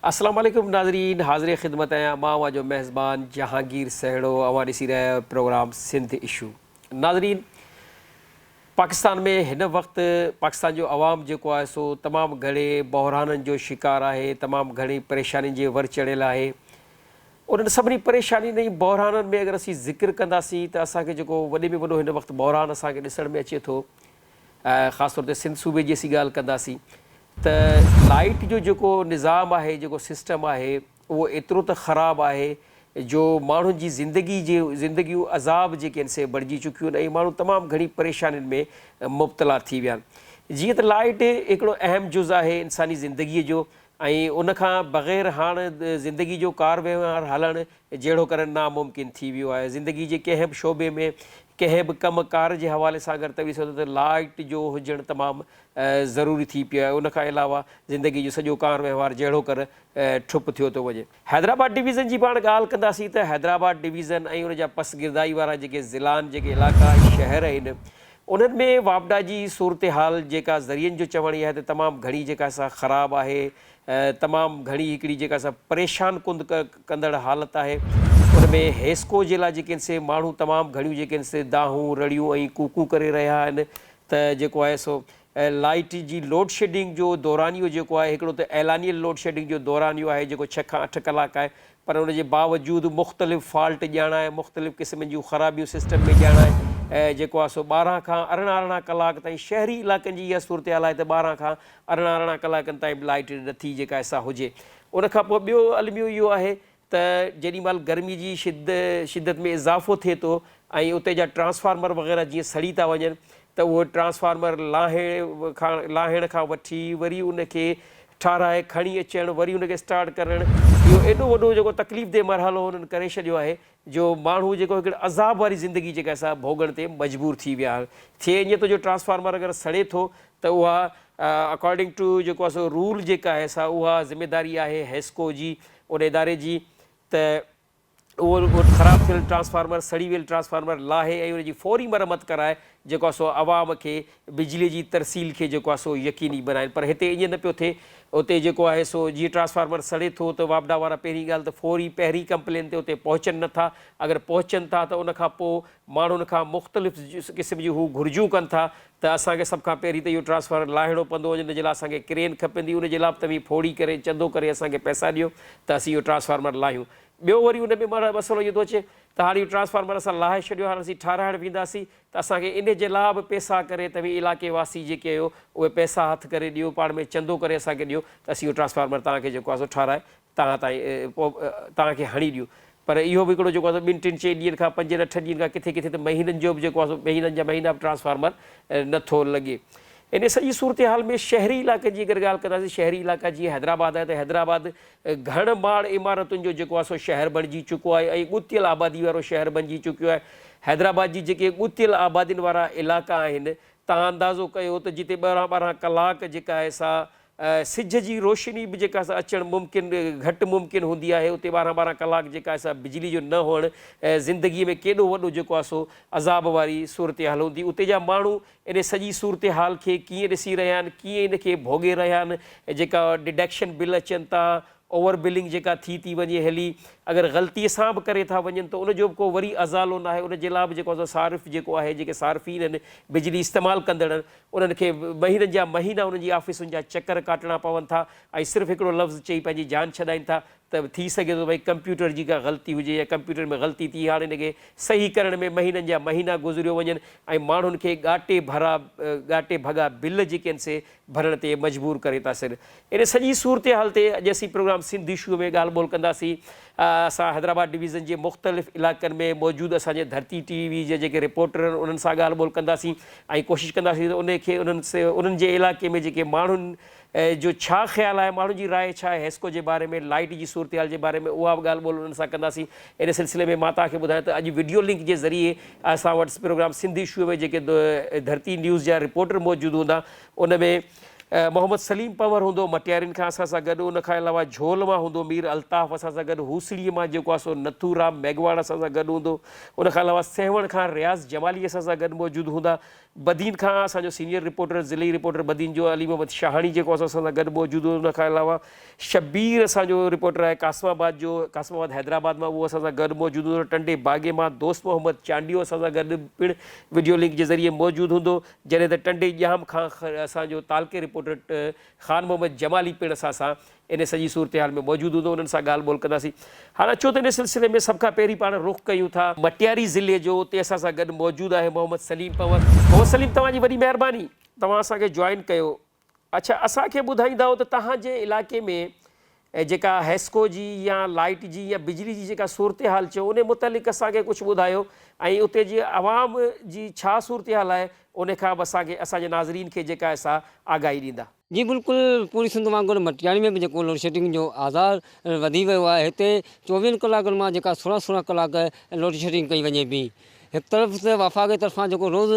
السلام عليڪم ناظرين حاضر خدمت آهيان مان اوهان جو ميزبان جهانگير سهڙو اوهان ڏسي رهيا آهيو پروگرام سنڌ اشو. ناظرين! پاڪستان ۾ هن وقت پاڪستان جو عوام جيڪو آهي سو تمام گهڻي بحرانن جو شڪار آهي، تمام گهڻي پريشانين جي ور چڙهيل آهي. انهن سڀني پريشانين ۽ بحرانن ۾ اگر اسين ذڪر ڪنداسين ته اسان کي جيڪو وڏي ۾ وڏو هن وقت بحران اسان کي ڏسڻ ۾ اچي ٿو خاص طور تي سنڌ صوبي جي اسين ڳالهه ڪنداسين ته لائيٽ جو جيڪو نظام آهي جيڪو سسٽم آهي اهو ايترو ته خراب آهي جو ماڻهن جي زندگي جي زندگيون عذاب جيڪي آهن سي بڻجي چڪيون آهن ۽ ماڻهو تمام گهڻي پريشانين ۾ مبتلا ٿي ويا آهن. جيئن ته لائٽ هڪڙو اهم جز آهي انساني زندگي جو ۽ ان کان بغير هاڻ زندگي جو ڪار وهنوار هلڻ جهڙو ڪرڻ ناممڪن ٿي ويو آهي. زندگي جي ڪنهن به شعبي ۾ ڪنهن به ڪم ڪار جي حوالي سان اگر توهين سوچو ته لائٽ جو هجڻ تمام ضروري ٿي پيو آهي ان کان علاوه زندگي جو سڄو ڪار وهنوار جهڙو ڪر ٺپ ٿيو ٿو وڃي. حيدرآباد ڊويزن جي پاڻ ڳالهه ڪنداسين ته حيدرآباد ڊويزن ۽ ان جا پس گردائي وارا جيڪي ضلعا آهن، جيڪي علائقا ۽ شهر آهن، انهن ۾ واپڊا جي صورتحال جيڪا ذريعن جو چوڻ ئي آهي ته تمام گهڻي جيڪا سا خراب آهي، تمام گهڻي هڪڙي جيڪا سا پريشان ڪن ڪندڙ حالت آهي، ان ۾ هيسڪو جي لاء جيڪي آهن سي ماڻهو تمام گهڻيون جيڪي آهن سي دانهون، رڙيون ۽ ڪوڪون ڪري رهيا آهن ته جيڪو آهي سو ۽ لائيٽ جي لوڊشيڊنگ جو دورانيو جيڪو آهي هڪڙو ته اعلانيل لوڊشيڊنگ جو دورانيو آهي جيڪو ڇهه کان اٺ ڪلاڪ آهي پر ان جي باوجود مختلف فالٽ ڄاڻائي مختلف قسمن جون خرابيون سسٽم ۾ ڄاڻائي جيڪو آهي سو ٻارهن کان ارڙهن ارڙهن ڪلاڪ تائين شهري علائقن جي اها صورتحال آهي ته ٻارهن کان ارڙهن ارڙهن ڪلاڪن تائين به لائيٽ نٿي جيڪا آهي سا هجي ان کان پوء ٻيو الميو اهو آهي ته جيڏي مھل گرمي جي شدت ۾ اضافو ٿئي ٿو ۽ اتي جا ٽرانسفارمر وغيره جيئن سڙي ٿا وڃن ته اھو ٽرانسفارمر لاھڻ کان وٺي وري ان کي ٺاھرائي کڻي اچڻ وري ان کي اسٽارٽ ڪرڻ اھو ايڏو وڏو جيڪو تڪليف دھ مرحلو انھن ڪري ڇڏيو آھي جو ماڻھو جيڪو ھڪڙي عذاب واري زندگي جيڪا سا ڀوڳڻ تي مجبور ٿي ويا ٿئي اڃ تو جو ٽرانسفارمر اگر سڙي ٿو ته اھا اڪارڊنگ ٽو جيڪو آھي سو رول جيڪا آھي سا اھا ذميداري آھي حيسڪو جي ان اداري جي ته اهو خراب ٿيل ٽرانسفارمر سڙي ويل ٽرانسفارمر لاهي ۽ ان جي فوري مرمت ڪرائي جيڪو آهي سو عوام کي بجلي جي ترسيل کي جيڪو آهي سو يقيني بنائين پر هتي ائين نه پيو ٿئي اتي جيڪو آهي سو جيئن ٽرانسفارمر سڙي ٿو ته واپڊا وارا پهرين ڳالهه ته فوري پهرين ڪمپلين تي اتي پهچن نه ٿا اگر پهچن ٿا ته ان کان پوء ماڻهن کان مختلف قسم جون هو گهرجون ڪن ٿا ته اسان کي سڀ کان پهرين ته اهو ٽرانسفارمر لاهڻو پوندو جنهن جي لاء اسان کي ڪرين کپندي ان جي لاء به توهين ڦوڙي ڪري چندو ڪري اسان کي پئسا ڏيو ته اسين اهو ٽرانسفارمر لاهيون ٻيو وري ان ۾ مسئلو اهو ٿو اچي ته هاڻي اهو ٽرانسفارمر اسان لاهي ڇڏيو هاڻي اسين ٺاهرائڻ وينداسين ته اسان کي ان جي لاء به پئسا ڪري توهين علائقي واسي جيڪي آهيو اهي پئسا هٿ ڪري ڏيو پاڻ ۾ چندو ڪري اسان کي ڏيو ته اسين اهو ٽرانسفارمر توهان کي جيڪو آهي سو ٺاهرائي توهان تائين پوء توهان کي هڻي ڏيون. پر اهو به هڪڙو جيڪو آهي سو ٻن ٽن چئن ڏينهن کان پنجن اٺن ڏينهن کان ڪٿي ڪٿي ته مهينن جو به جيڪو آهي سو مهينن جا مهينا به ٽرانسفارمر نه ٿو لڳي. انهيء سڄي صورتحال ۾ شهري علائقن جي اگر ڳالهه ڪنداسين شهري علائقا جيئن حيدرآباد آهي ته حيدرآباد گهڻ ماڙ عمارتن جو جيڪو آهي سو شهر بڻجي چڪو آهي ۽ ڳتيل آبادي وارو شهر بڻجي چڪيو آهي. حيدرآباد جي جيڪي ڳتيل آبادين وارا علائقا آهن توهان اندازو ڪيو ته جتي ٻارهن ٻارهن ڪلاڪ جيڪا آهي سا سج جي روشني به جيڪا سا اچڻ ممڪن گهٽ ممڪن هوندي آهي اتي ٻارهن ٻارهن ڪلاڪ جيڪا آهي سا بجلي جو نه هئڻ زندگي ۾ ڪيڏو وڏو جيڪو آهي سو عذاب واري صورتحال هوندي اتي جا ماڻهو انهي سڄي صورتحال کي ڪيئن ڏسي رهيا آهن ڪيئن ان کي ڀوڳي رهيا آهن جيڪا ڊڊڪشن بل اچن ٿا اوور بلنگ جيڪا ٿي ٿي وڃي هلي اگر غلطي سان به ڪري ٿا وڃن ته ان جو به ڪو وري ازالو ناهي ان جي لاء به جيڪو آهي سو صارف جيڪو آهي جيڪي صارفين آهن بجلي استعمال ڪندڙ انهن کي مهينن جا مهينا انهن جي آفيسن جا چڪر ڪاٽڻا پون ٿا ۽ صرف هڪڙو لفظ چئي پنهنجي جان ڇڏائين ٿا ته ٿي سگهي ٿو ته ڪمپيوٽر جي ڪا غلطي هجي يا ڪمپيوٽر ۾ غلطي ٿي هاڻ ان کي صحيح ڪرڻ ۾ مهينن جا مهينا گذريو وڃن ۽ ماڻهن کي ڳاٽي ڀرا ڳاٽي ڀڳا بل جيڪي آهن سي ڀرڻ تي مجبور ڪري ٿا سڏ ان سڄي صورتحال تي اڄ اسين پروگرام سنڌ اشوء ۾ ڳالهه ٻولهه ڪنداسين. اسان حيدرآباد ڊويزن جي مختلف علائقن ۾ موجود اسان جي ڌرتي ٽي وي جا جيڪي رپورٽر آهن انهن سان ڳالهه ٻولهه ڪنداسين ۽ ڪوشش ڪنداسين ته انهن کي انهن انهن جي علائقي ۾ جيڪي ماڻهن جو ڇا خيال آهي ماڻهن جي راء ڇا آهي حيسڪو جي باري ۾ لائيٽ جي صورتحال جي باري ۾ اها به ڳالهه ٻولهه انهن سان ڪنداسين ان سلسلي ۾ مان توهان کي ٻڌايان ته اڄ وڊيو لنڪ جي ذريعي اسان وٽ پروگرام سنڌ اشوء ۾ جيڪي ڌرتي نيوز جا رپورٽر موجود هوندا ان ۾ محمد سليم پنور هوندو مٽيارين کان اسان سان گڏ، ان کان علاوه جهول مان هوندو مير الطاف اسان سان گڏ، هوسڙيء مان جيڪو آ سو نٿو رام ميگهواڙ اسان سان گڏ هوندو، ان کان علاوه سيوهڻ کان رياض جمالي اسان سان گڏ موجود هوندا، بدين کان اسان جو سينيئر رپورٽر ضلعي رپورٽر بدين جو علي محمد شاهاڻي جيڪو آ سو اسان سان گڏ موجود هوندو، ان کان علاوه شبير اسان جو رپورٽر آهي قاسم آباد جو، قاسم آباد حيدرآباد مان اهو اسان سان گڏ موجود هوندو، ٽنڊي باگي مان دوست محمد چانڊيو اسان سان گڏ پڻ وڊيو لنڪ جي ذريعي موجود هوندو، جڏهن ته ٽنڊي ڄام کان اسان جو تعلقي رپورٽر خان محمد جمالي پڻ اسان سان ان سڄي صورتحال ۾ موجود هوندو انهن سان ڳالهه ٻولهه ڪنداسين هاڻ اچو ته ان سلسلي ۾ سڀ کان پهرين پاڻ رخ ڪيون ٿا مٽياري ضلعي جو اتي اسان سان گڏ موجود آهي محمد سليم پنور محمد سليم توهان جي وڏي مهرباني توهان اسان کي جوائن ڪيو. اڇا اسان کي ٻڌائيندؤ ته توهان جي علائقي ۾ جيڪا حيسڪو جي يا لائيٽ جي يا بجلي جي جيڪا صورتحال چئو انهي متعلق اسان کي ڪجهه ٻڌايو ۽ اتي جي عوام جي ڇا صورتحال آهي انهي کان به اسان کي اسان جي ناظرين کي جيڪا آهي سا آگاهي ڏيندا. جي بلڪل پوري سنڌ وانگر مٽياڻي ۾ به جيڪو لوڊشيڊنگ جو آزار وڌي ويو آهي هتي چوويهن ڪلاڪن مان جيڪا سورهن سورهن ڪلاڪ لوڊشيڊنگ ڪئي وڃي پئي. هڪ طرف ته وفاق طرفان جيڪو روز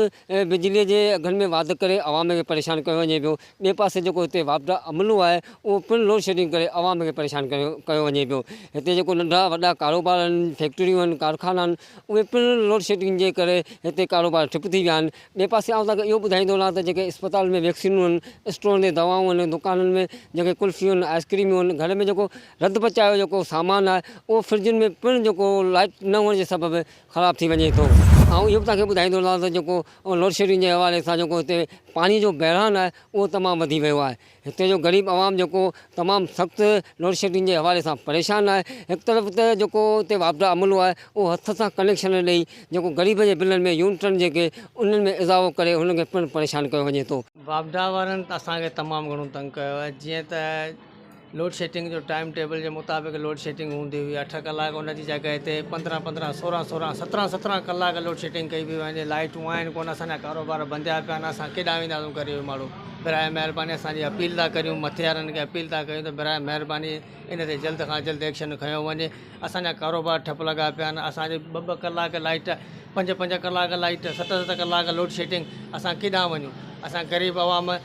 بجلي جي اگهن ۾ واڌ ڪري عوام کي پريشان ڪيو وڃي پيو ٻئي پاسي جيڪو هتي واپڊا عملو آهي اهو پڻ لوڊشيڊنگ ڪري عوام کي پريشان ڪيو وڃي پيو هتي جيڪو ننڍا وڏا ڪاروبار آهن فيڪٽريون آهن ڪارخانا آهن اهي پڻ لوڊشيڊنگ جي ڪري هتي ڪاروبار ٺپ ٿي ويا آهن ٻئي پاسي آئون توهان کي اهو ٻڌائيندو رهان ته جيڪي اسپتال ۾ ويڪسينون آهن اسٽور تي دوائون آهن دڪانن ۾ جيڪي ڪلفيون آهن آئسڪريمون آهن گهر ۾ جيڪو رڌ پچاء جو جيڪو سامان آهي اهو فرجن ۾ پڻ جيڪو لائٽ نه هئڻ جي سبب خراب ٿي وڃي ٿو آئون اهو به توهان کي ٻڌائيندو هلان ته جيڪو لوڊشيڊنگ جي حوالي سان جيڪو هتي پاڻي جو بحران آهي اهو تمام وڌي ويو آهي هتي جو غريب عوام جيڪو تمام سخت لوڊشيڊنگ جي حوالي سان پريشان آهي هڪ طرف ته جيڪو هتي واپڊا عملو آهي اهو هٿ سان ڪنيڪشن ڏئي جيڪو غريب جي بلن ۾ يونٽن جيڪي انهن ۾ اضافو ڪري هنن کي پڻ پريشان ڪيو وڃي ٿو. واپڊا وارن ته اسان کي تمام گهڻو تنگ ڪيو آهي جيئن ته لوڊ شيڊنگ جو ٽائيم ٽيبل جي مطابق لوڊ شيڊنگ هوندي هئي اٺ ڪلاڪ ان جي جڳهه تي پندرهن پندرهن سورهن سورهن سترهن سترهن ڪلاڪ لوڊ شيڊنگ ڪئي پئي وڃي لائيٽون آهن ڪونه اسان جا ڪاروبار بنديا پيا آهن اسان ڪيڏانهن وينداسون غريب ماڻهو براء مهرباني اسان جي اپيل ٿا ڪريون مٿي وارن کي اپيل ٿا ڪريون ته براء مهرباني ان تي جلد کان جلد ايڪشن کنيو وڃي اسان جا ڪاروبار ٺپ لڳا پيا آهن اسان جي ٻه ٻه ڪلاڪ لائيٽ پنج پنج ڪلاڪ لائيٽ ست ست ڪلاڪ لوڊ شيڊنگ اسان ڪيڏانهن وڃون اسان غريب عوام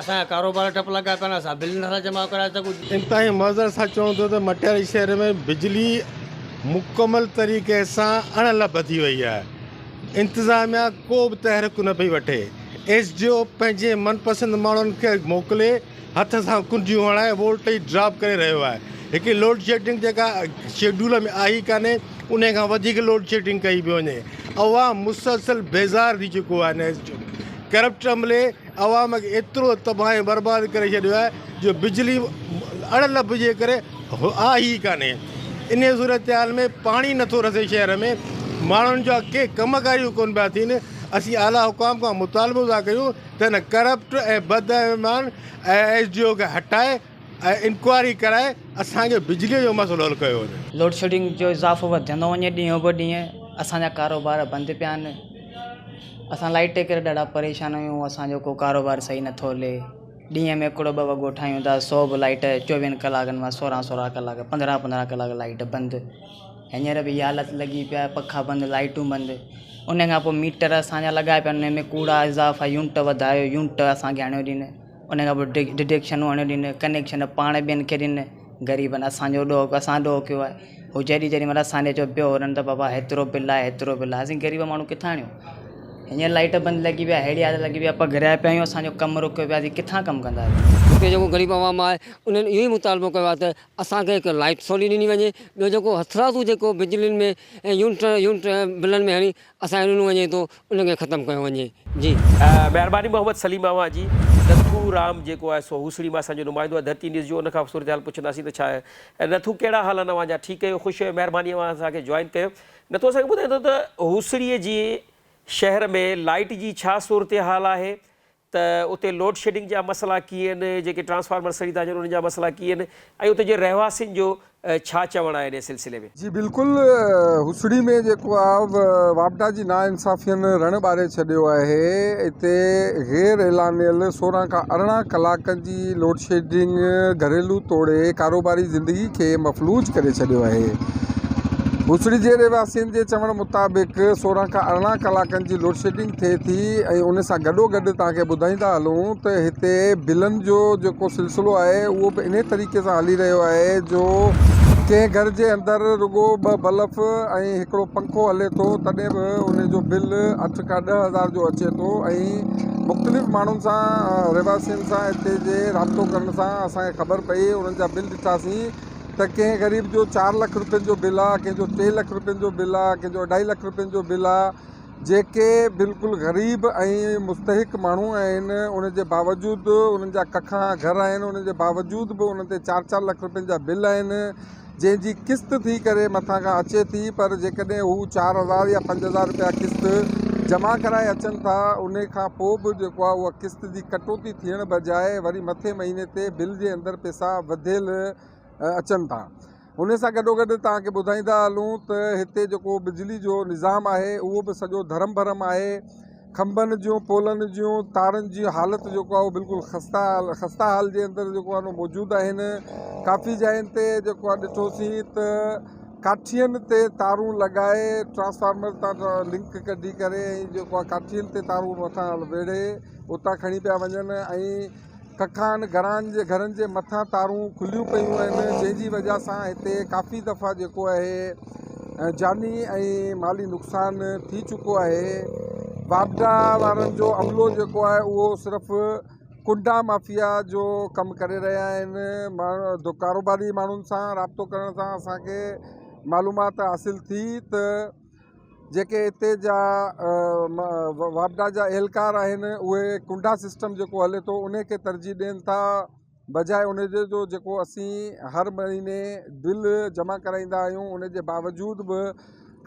اسان جا ڪاروبار ٺپ لڳا پيا آهن، اسان بل نٿا جمع ڪرائي سگهون. انتهائي معذرت سان چون ٿو ته مٽياري شهر ۾ بجلي مڪمل طريقي سان اڻ لڀ ٿي وئي آهي، انتظاميا ڪو به تحرڪ نه پئي وٺي، ايس ڊي او پنهنجي من پسند ماڻهن کي موڪلي هٿ سان ڪنڊيون هڻائي وولٽيج ڊراپ ڪري رهيو آهي، هڪڙي لوڊشيڊنگ جيڪا شيڊول ۾ آهي ئي ڪانهي انهي کان وڌيڪ لوڊشيڊنگ ڪئي پئي وڃي، عوام مسلسل بيزار ٿي چڪو آهي ان ايس ڊي او ڪرپٽ عملي عوام کي ايترو تباهه ۽ برباد ڪري ڇڏيو آهي جو بجلي اڙ لڀ جي ڪري آهي ئي ڪانهي. انهيء صورتحال ۾ پاڻي نٿو رسي شهر ۾ ماڻهن جا ڪي ڪم ڪاريون ڪونه پيا ٿين. اسين اعليٰ حڪام کان مطالبو ٿا ڪيون ته هن ڪرپٽ ۽ بدايمان ايس ڊي او کي هٽائي ۽ انڪوائري ڪرائي اسان کي بجلي جو مسئلو حل ڪيو وڃي. لوڊشيڊنگ جو اضافو وڌندو وڃي ڏينهون به ڏينهن اسان جا ڪاروبار بند پيا آهن اسان لائيٽ جي ڪري ڏاڍا پريشان آهيون اسان جو ڪو ڪاروبار صحيح نه ٿو هلي ڏينهن ۾ هڪڙو ٻه وڳو ٺاهيون ٿا سو به لائيٽ چوويهن ڪلاڪن مان سورهن سورهن ڪلاڪ پندرهن پندرهن ڪلاڪ لائيٽ بند هينئر به اها حالت لڳي پيا آهي پکا بند لائيٽون بند ان کان پوء ميٽر اسان جا لڳايا پيا آهن ان ۾ ڪوڙا اضافا يونٽ وڌايو يونٽ اسان کي آڻيو ڏين ان کان پوء ڊڊيڪشنون آڻي ڏنيون ڪنيڪشن پاڻ ٻين کي ڏني غريبن اسانجو ڏوھ ڪيو اسان ڏوھ ڪيو آھي ھو جڏھن جڏھن متان سانجھي جو پيو ھلن ته بابا ھيترو بل آھي ھيترو بل آھي اسين غريب ماڻھو ڪٿان آڻيون ھينئر لائيٽ بند لڳي ويا ھيڙي حالت لڳي ويا پگھر آھي پيا آھيون اسانجو ڪم رڪيو پيو آھي ڪٿان ڪم ڪنداسين ھتي جيڪو غريب عوام آھي انھن اھو ئي مطالبو ڪيو آھي ته اسانکي ھڪ لائيٽ سولي ڏني وڃي ٻيو جيڪو ھٿرادو جيڪو بجلين ۾ يونٽ يونٽ بلن ۾ ھڻي اسان کي ڏنو وڃي ٿو ان کي ختم ڪيو وڃي جي. مهرباني محمد سليم اوهان جي. نٿو رام جيڪو آهي سو هوسڙي ماء اسان جو نمائندو آهي ڌرتي نيوز جو ان کان صورتحال پڇنداسين ته ڇا آهي نٿو ڪهڙا حال آهن اوهان جا ٺيڪ اهيو خوش اهيو مهرباني اوهان اسان کي جوائن ڪيو نٿو اسان کي ٻڌائيندو ته هوسڙي جي شهر ۾ لائيٽ جي ڇا صورتحال آهي ته اتي لوڊ شيڊنگ جا مسئلا ڪيئن آهن، جيڪي ٽرانسفارمر سڙي ٿا اچن انهن جا مسئلا ڪيئن آهن ۽ اتي جي رهواسين جو ڇا چوڻ آهي انهي سلسلي ۾. جي بلڪل هوسڙي ۾ جيڪو آ واپڊا جي نا انصافين رڻ ٻاري ڇڏيو آهي اتي غير اعلانيل سورهن کان ارڙهن ڪلاڪن جي لوڊ شيڊنگ گهريلو توڙي ڪاروباري زندگي کي مفلوج ڪري ڇڏيو آهي هوسڙي جي رهواسين جي چوڻ مطابق سورهن کان ارڙهن ڪلاڪن جي لوڊ شيڊنگ ٿئي ٿي ۽ ان سان گڏو گڏ توهان کي ٻڌائيندا هلون ته هتي بلن جو جيڪو سلسلو آهي اهو به انهي طريقي سان هلي رهيو آهي جو ڪنهن گهر جي اندر رڳو ٻه بلف ۽ هڪڙو پنکو هلي ٿو تڏهن به ان جو بل اٺ کان ڏهه هزار جو اچي ٿو ۽ مختلف ماڻهن سان رهواسين سان هتي جي رابطو ڪرڻ سان اسان کي خبر پئي انهن جا بل ڏٺاسين ته ڪنهن غريب جو چار لک روپين جو بل آهي ڪنهن جو ٽي لک روپين جو بل آهي ڪنهن جو اڍائي لک روپين جو بل آهي جيڪي بلڪل غريب ۽ مستحق ماڻهو آهن ان جي باوجود انهن جا ڪکا گهر آهن انهن جي باوجود به انهن تي چار چار لک روپين جا بل آهن جنهن جي قسط ٿي ڪري مٿان کان اچي ٿي پر جيڪڏهن هو چار هزار يا پنج هزار روپيا قسط جمع ڪرائي اچن ٿا ان کان پوء به جيڪو آهي اها قسط جي ڪٽوتي ٿيڻ بجاء وري مٿين مهيني تي بل جي اندر پئسا وڌيل اچن ٿا ان سان گڏوگڏ توهان کي ٻڌائيندا هلون ته هتي جيڪو بجلي جو نظام آهي اهو به سڄو ڌرم ڀرم آهي کنڀن جون پولن جون تارن جي حالت جيڪو آهي اهو بلڪل خستا خستا حال جي اندر جيڪو آهي نو موجود آهن ڪافي جاين تي جيڪو آهي ڏٺوسين ته ڪاٺين تي تارون لڳائي ٽرانسفارمر تان لنڪ ڪڍي ڪري ۽ جيڪو آهي ڪاٺين تي تارون مٿان ويڙهي اتان کڻي پيا وڃن ۽ ڪکان گھران جي گھرن جي مٿان تارون کليون پيون آهن جنهن جي وجه سان هتي ڪافي دفعا جيڪو آهي جاني ۽ مالي نقصان ٿي چڪو آهي واپڊا وارن جو عملو جيڪو آهي اهو صرف ڪنڊا مافيا جو ڪم ڪري رهيا آهن ماڻهو ڪاروباري ماڻهن سان رابطو ڪرڻ سان اسان کي معلومات حاصل ٿي ته جيڪي اتي جا واپڊا جا اهلڪار آهن اهي ڪنڊا سسٽم جيڪو هلي ٿو ان کي ترجيح ڏين ٿا بجاء ان جي جو جيڪو اسين هر مهيني بل جمع ڪرائيندا آهيون ان جي باوجود به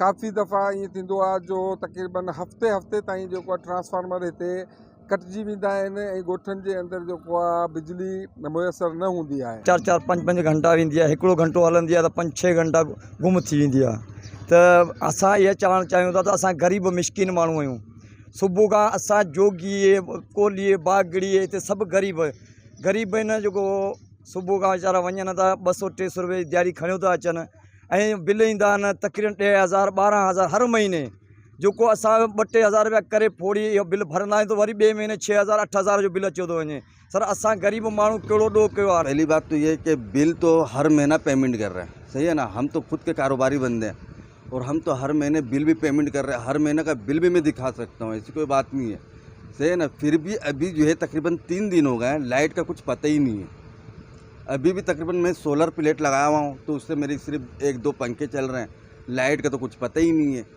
ڪافي دفعا ائين ٿيندو آهي جو تقريبن هفتي هفتي تائين جيڪو ٽرانسفارمر هتي ڪٽجي ويندا آهن ۽ ڳوٺن جي اندر جيڪو آ بجلي ميسر نه هوندي آهي. چار چار پنج پنج گهنٽا ويندي آهي هڪڙو گهنٽو هلندي آهي ته پنج ڇهه گهنٽا گم ٿي ويندي آهي ته اسان اها چوڻ چاهيون ٿا ته اسان غريب مسڪين ماڻهو آهيون صبح کان اسان جوڳي ڪولهي باگڙي هتي سڀ غريب غريب آهن جيڪو صبح کان ويچارا وڃن ٿا ٻه سو ٽي سو روپيه جي دهاڙي کڻيو ٿا اچن ۽ بل ايندا آهن تقريبن ڏهه هزار ٻارهن هزار هر مهيني جيڪو اسان ٻه ٽي هزار رپيا ڪري ڦوڙي اهو بل ڀرندا آهيون ته وري ٻئي مهيني ڇهه هزار اٺ هزار جو بل اچيو ٿو وڃي سر اسان غريب ماڻهو ڪهڙو ڏوهه ڪيو آهي. پهلي بات تو هي ڪي بل تو هر مهينا پيمنٽ ڪر رهي صحيح هي نه هم تو خود ڪي ڪاروباري بندي هي اور هم تو هر مهيني بل به پيمنٽ ڪر رهي هر مهيني ڪا بل به مين دکا سکتا هون ايسي ڪوئي بات نهي هي صحيح هي نه ڦر به ابهي جو هي تقريبن تين دين هو گئي لائيٽ ڪا ڪجھ پته ئي نهي هي ابهي به تقريبن مين سولر پليٽ لگايا هوا هون تو اس سي ميري صرف ايڪ دو پنکي چل رهي هي لائيٽ ڪا تو ڪجھ پته ئي نهي هي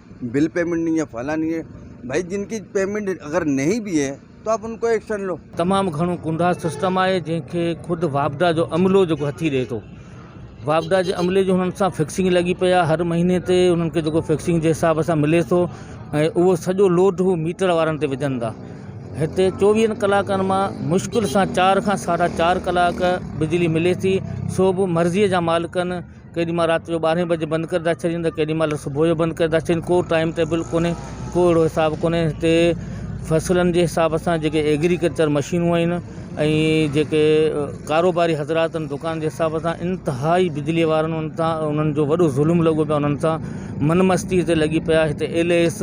بل پيمنٽ نھي ھي فلاڻي نھي ھي بھائي جن ڪي پيمنٽ اگر نھي بي ھي تو آپ ان ڪو ايڪشن لو. تمام گھڻو ڪونڊا سسٽم آھي جنھن کي خود واپڊا جو عملو جيڪو ھٿي ڏئي ٿو واپڊا جي عملي جو ھنن سان فڪسنگ لڳي پئي آھي ھر مھيني تي ھنن کي جيڪو فڪسنگ جي حساب سان ملي ٿو ۽ اھو سڄو لوڊ ھو ميٽر وارن تي وجھن ٿا ھتي چوويھن ڪلاڪن مان مشڪل سان چار کان ساڍا چار ڪلاڪ بجلي ملي ٿي سو به مرضي جا مالڪن ڪيڏي مھل رات جو ٻارھين بجي بند ڪري ٿا ڇڏين ته ڪيڏي مھل صبح جو بند ڪري ٿا ڇڏين ڪو ٽائيم ٽيبل ڪونھي ڪو اھڙو حساب ڪونھي ھتي فصلن جي حساب سان جيڪي ايگريڪلچر مشينون آھن ۽ جيڪي ڪاروباري حضرات ان دڪان جي حساب سان انتھائي بجلي وارن ان تان انھن جو وڏو ظلم لڳو پيو انھن سان من مستي تي لڳي پيا ھتي ايل اي ايس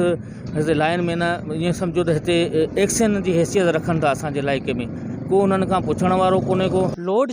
ھتي لائن مين ائين سمجھو ته ھتي ايڪسن جي حيثيت رکن ٿا اسانجي علائقي ۾ ڪو انھن کان پڇڻ وارو ڪونھي ڪو لوڊ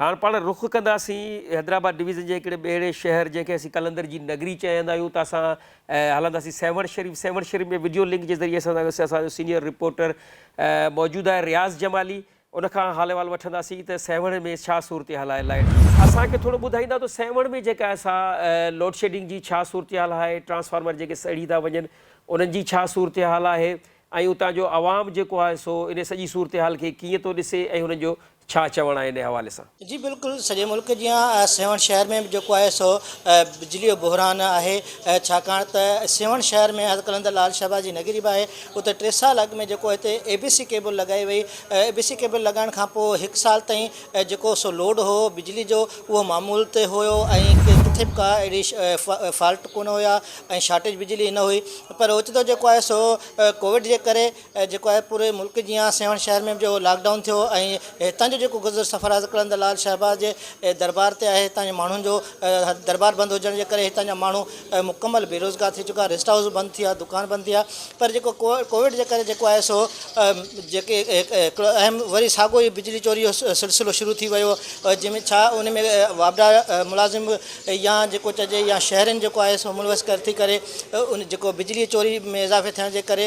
هاڻ پاڻ رخ ڪنداسين حيدرآباد ڊويزن جي هڪڙي ٻهڙي شهر جنهن کي اسين قلندر جي نگري چئندا آهيون ته اسان هلنداسين سيوهڻ شريف سيوهڻ شريف ۾ وڊيو لنڪ جي ذريعي سان اسان جو سينيئر رپورٽر موجود آهي رياض جمالي ان کان حال احوال وٺنداسين ته سيوهڻ ۾ ڇا صورتحال آهي لائٽ اسان کي ٿورو ٻڌائيندا ته سيوهڻ ۾ جيڪا سا لوڊشيڊنگ جي ڇا صورتحال آهي ٽرانسفارمر جيڪي سڙي ٿا وڃن انهن جي ڇا صورتحال آهي ۽ اتان جو عوام جيڪو آهي سو ان سڄي صورتحال کي ڪيئن ٿو ڏسي ۽ هنن جو ڇا چوڻ آهي انهي حوالي سان؟ جي بلڪل سڄي ملڪ جيان سيوهڻ شهر ۾ به جيڪو آهي سو بجلي جو بحران آهي ڇاڪاڻ ته سيوهڻ شهر ۾ حضرت قلندر لال شهباز جي نگري به آهي اتي ٽي سال اڳ ۾ جيڪو هتي اي بي سي ڪيبل لڳائي وئي اي بي سي ڪيبل لڳائڻ کان پوء هڪ سال تائين جيڪو سو لوڊ هو بجلي جو اهو معمول تي هيو ۽ ڪٿي به ڪا اهڙي فالٽ ڪونه هيا ۽ شارٽيج بجلي نه هئي پر اوچتو جيڪو آهي سو ڪووڊ جي ڪري ۽ جيڪو آهي پوري ملڪ جيان سيوهڻ شهر ۾ به جيڪو لاڪ ڊائون ٿيو ۽ هتان جو جيڪو گذر سفر آهي سو قلندر لال شهباز جي دربار تي آهي هتان جي ماڻهن جو دربار بند هجڻ جي ڪري هتان جا ماڻهو مڪمل بيروزگار ٿي چڪا ريسٽ هائوس بند ٿي ويا دڪان بند ٿي ويا پر جيڪو ڪو ڪووڊ جي ڪري جيڪو آهي سو جيڪي هڪڙو اهم وري ساڳو ئي بجلي چوري جو سلسلو شروع ٿي ويو جنهن ۾ ڇا ان ۾ واپڊا ملازم يا جيڪو چئجي يا شهرين جيڪو آهي سو ملوث ڪرتي ڪري ان جيڪو بجلي چوري ۾ اضافي ٿيڻ جي ڪري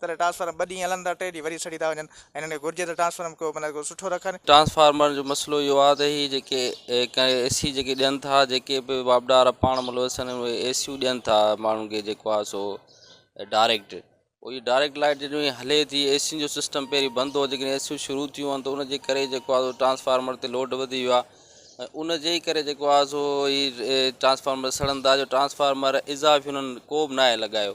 تڏهن ٽرانسفارم ٻه ڏينهن هلن ٿا ٽي ڏينهن وري سڙي ٿا وڃن ۽ هنن کي گهرجي ته ٽرانسفارم ڪو مطلب ڪو سٺو رکن. ٽرانسفارمرن جو مسئلو اهو آهي ته هي جيڪي اي سي جيڪي ڏين ٿا جيڪي به واپڊار پاڻ ملوث آهن اهي اي سيون ڏين ٿا ماڻهن کي جيڪو آهي سو ڊائريڪٽ پوء هي ڊائريڪٽ لائيٽ جڏهن هي هلي ٿي اي سين جو سسٽم پهرين بند هو جيڪڏهن اي سيون شروع ٿيون آهن ته ان جي ڪري جيڪو آهي سو ٽرانسفارمر تي لوڊ وڌي ويو آهي ۽ ان جي ئي ڪري جيڪو آهي سو هي ٽرانسفارمر سڙن ٿا جو ٽرانسفارمر اضافي هنن ڪو به ناهي لڳايو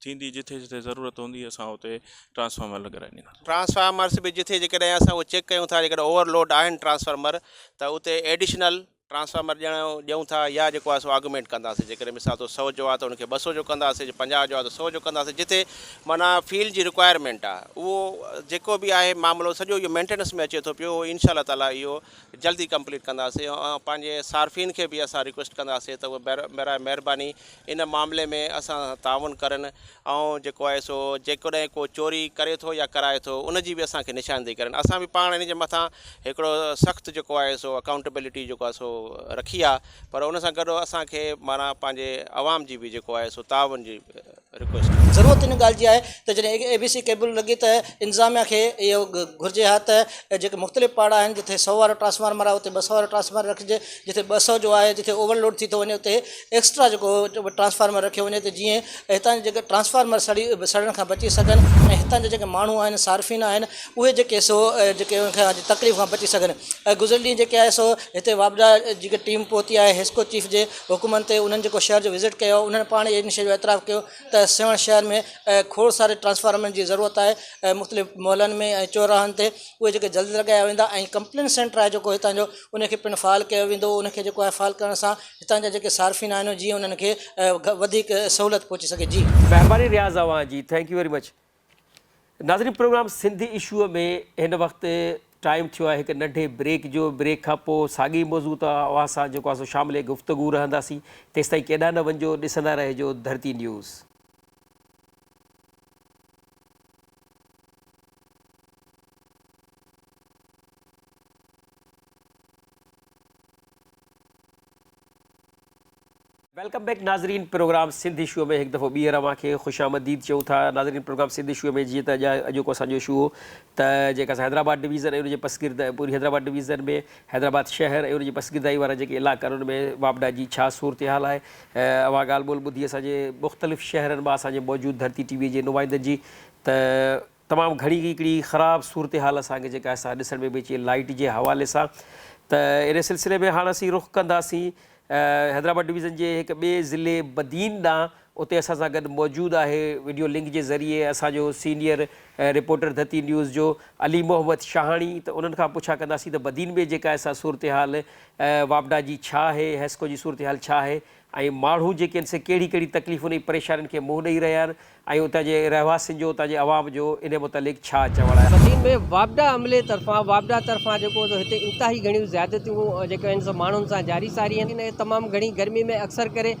ٿيندي جتي جتي ضرورت هوندي اسان اتي ٽرانسفارمر لڳرائي ڏينداسون. ٽرانسفارمرس به جتي جيڪڏهن اسان اهو چيڪ ڪيون ٿا جيڪڏهن اوور لوڊ آهن ٽرانسفارمر ته اتي ايڊيشنل ٽرانسفارمر ڏيڻ جو ڏيون ٿا يا جيڪو آهي سو آگمينٽ ڪنداسين جيڪڏهن مثال طور سؤ جو آهي ته ان کي ٻه سؤ جو ڪنداسين جي پنجاهه جو آهي ته سؤ جو ڪنداسين جتي معنيٰ فيلڊ جي رڪوائرمينٽ آهي اهو جيڪو به آهي معاملو سڄو اهو مينٽيننس ۾ اچي ٿو پيو اهو انشاء الله تعالٰي اهو جلدي ڪمپليٽ ڪنداسين ۽ پنهنجي صارفين کي به اسان رڪويسٽ ڪنداسين ته اهو برائي مهرباني ان معاملي ۾ اسان سان تعاون ڪرن ۽ جيڪو آهي سو جيڪڏهن ڪو چوري ڪري ٿو يا ڪرائي ٿو ان جي به اسان کي نشاندهي ڪرن اسان به پاڻ ان جي مٿان هڪڙو سخت جيڪو آهي سو اڪائونٽيبلٽي جيڪو آهي سو رکي آهي پر ان سان گڏ اسان کي معنيٰ پنهنجي عوام جي به جيڪو آهي سو تعاون جي رڪويسٽ آهي. ضرورت ان ڳالهه جي آهي ته جڏهن اي بي سي ڪيبل لڳي ته انتظاميا کي اهو گهرجي ها ته جيڪي مختلف پاڙا آهن جتي سؤ وارو ٽرانسفارمر آهي اتي ٻه سؤ وارو ٽرانسفارمر رکجي جتي ٻه سؤ جو آهي جتي اوور لوڊ ٿي ٿو وڃي اتي ايڪسٽرا جيڪو ٽرانسفارمر رکيو وڃي ته جيئن هتان جا جيڪي ٽرانسفارمر سڙي سڙڻ کان بچي سگهن ۽ هتان جا جيڪي ماڻهو آهن صارفين آهن اهي جيڪي سو جيڪي ان کان تڪليف کان بچي سگهن ۽ گذريل ڏينهن جيڪي آهي سو هتي واپڊا جيڪي ٽيم پهتي آهي حسڪو چيف جي حڪمن تي انهن جيڪو شهر جو وزٽ ڪيو انهن پاڻ ان شيء جو اعتراف ڪيو ته سيوهڻ شهر ۾ کوڙ ساري ٽرانسفارمرن جي ضرورت آهي ۽ مختلف محلن ۾ ۽ چوراهن تي اهي جيڪي جلد لڳايا ويندا ۽ ڪمپلين سينٽر آهي جيڪو هتان جو ان کي پڻ فعال ڪيو ويندو ان کي جيڪو آهي فعال ڪرڻ سان هتان جا جيڪي صارفين آهن جيئن انهن کي وڌيڪ سهولت پهچي سگهي جي. مهرباني رياض اوهان جي ٿينڪ يو ويري مچ ناظرين پروگرام سنڌ اشو ۾ هن وقت ٽائيم ٿيو آهي هڪ ننڍي بريڪ جو بريڪ کان پو ساڳي موضوع تان اوهان سان جيڪو آهي سو شامل گفتگو رهنداسين تيستائين ڪيڏانهن نه وڃجو ڏسندا رهجو ڌرتي نيوز. ويلڪم بيڪ ناظرين پروگرام سنڌ اشوء ۾ هڪ دفعو ٻيهر اوهان کي خوش آمديد چئون ٿا ناظرين پروگرام سنڌ اشوء ۾ جيئن ته اڄ اڄوڪو اسان جو اشو هو ته جيڪا اسان حيدرآباد ڊويزن ۽ ان جي پسگرد پوري حيدرآباد ڊويزن ۾ حيدرآباد شهر ۽ ان جي پسگردائي وارا جيڪي علاقا آهن ان ۾ واپڊا جي ڇا صورتحال آهي اوهان ڳالهه ٻولهه ٻڌي اسان جي مختلف شهرن مان اسان جي موجود ڌرتي ٽي وي جي نمائندن جي ته تمام گهڻي هڪڙي خراب صورتحال اسان کي جيڪا سا ڏسڻ ۾ به اچي لائيٽ جي حوالي سان ته ان سلسلي ۾ هاڻ اسين رخ ڪنداسين حيدرآباد ڊويزن جي هڪ ٻئي ضلعي بدين ڏانهن اتي اسان سان گڏ موجود آهي وڊيو لنڪ جي ذريعي اسان جو سينيئر رپورٽر ڌرتي نيوز جو علي محمد شاهاڻي ته انهن کان پڇا ڪنداسين ته بدين ۾ جيڪا سا صورتحال واپڊا جي ڇا آهي حيسڪو جي صورتحال ڇا آهي ۽ ماڻهو جيڪي آهن سي ڪهڙي ڪهڙي تڪليفن ۽ پريشانين کي منهن ڏئي رهيا آهن ۽ اتان جي رهواسين جو اتان جي عوام جو انهي متعلق ڇا چوڻ آهي. مدين ۾ واپڊا عملي طرفان واپڊا طرفان جيڪو سو هتي انتهائي گهڻيون زيادتيون جيڪي آهن سو ماڻهن سان جاري ساري آهن ۽ تمام گهڻي گرمي ۾ اڪثر ڪري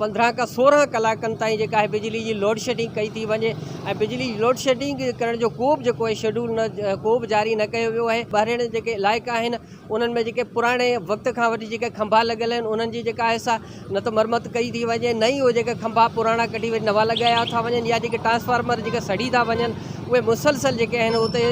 پندرهن کان سورهن ڪلاڪن تائين جيڪا آهي بجلي جي لوڊشيڊنگ ڪئي ٿي وڃي ۽ بجلي جي لوڊشيڊنگ ڪرڻ جو ڪوبه جيڪو آهي شيڊول ڪوبه جاري نه ڪيو ويو آهي ٻاهرين جيڪي علائقا آهن انهن ۾ جيڪي پراڻي وقت کان وٺي جيڪي کنڀا لڳل آهن انهن جي جيڪا آهي سا نه ته مرمت ڪئي ٿي وڃي نه ئي اهي جيڪا کنڀا پراڻا ڪڍي وري نوان لڳايا ٿا وڃن يا جيڪي ٽرانسفارمر جيڪي سڙي ٿا وڃن اهي مسلسل جيڪي آهن اتي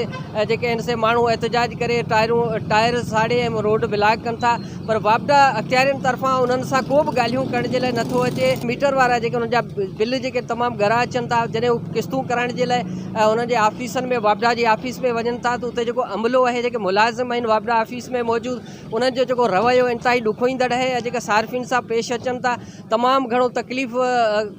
جيڪي آهن سي ماڻهو احتجاج ڪري ٽائرون ٽائر ساڙي ۽ روڊ بلاڪ ڪن ٿا پر واپڊا اختيارين طرفان انهن سان ڪو به ڳالهيون ڪرڻ جي لاء نٿو اچي ميٽر وارا جيڪي انهن جا بل جيڪي تمام ڳرا اچن ٿا جڏهن قسطون ڪرائڻ جي لاء ۽ انهن جي آفيسن ۾ واپڊا جي آفيس ۾ وڃن ٿا ته اتي جيڪو عملو آهي جيڪي ملازم آهن واپڊا آفيس ۾ موجود انهن جو جيڪو رويو انتهائي ڏکوئيندڙ آهي ۽ جيڪا صارفين سان پيش اچن ٿا تمام گهڻو تڪليف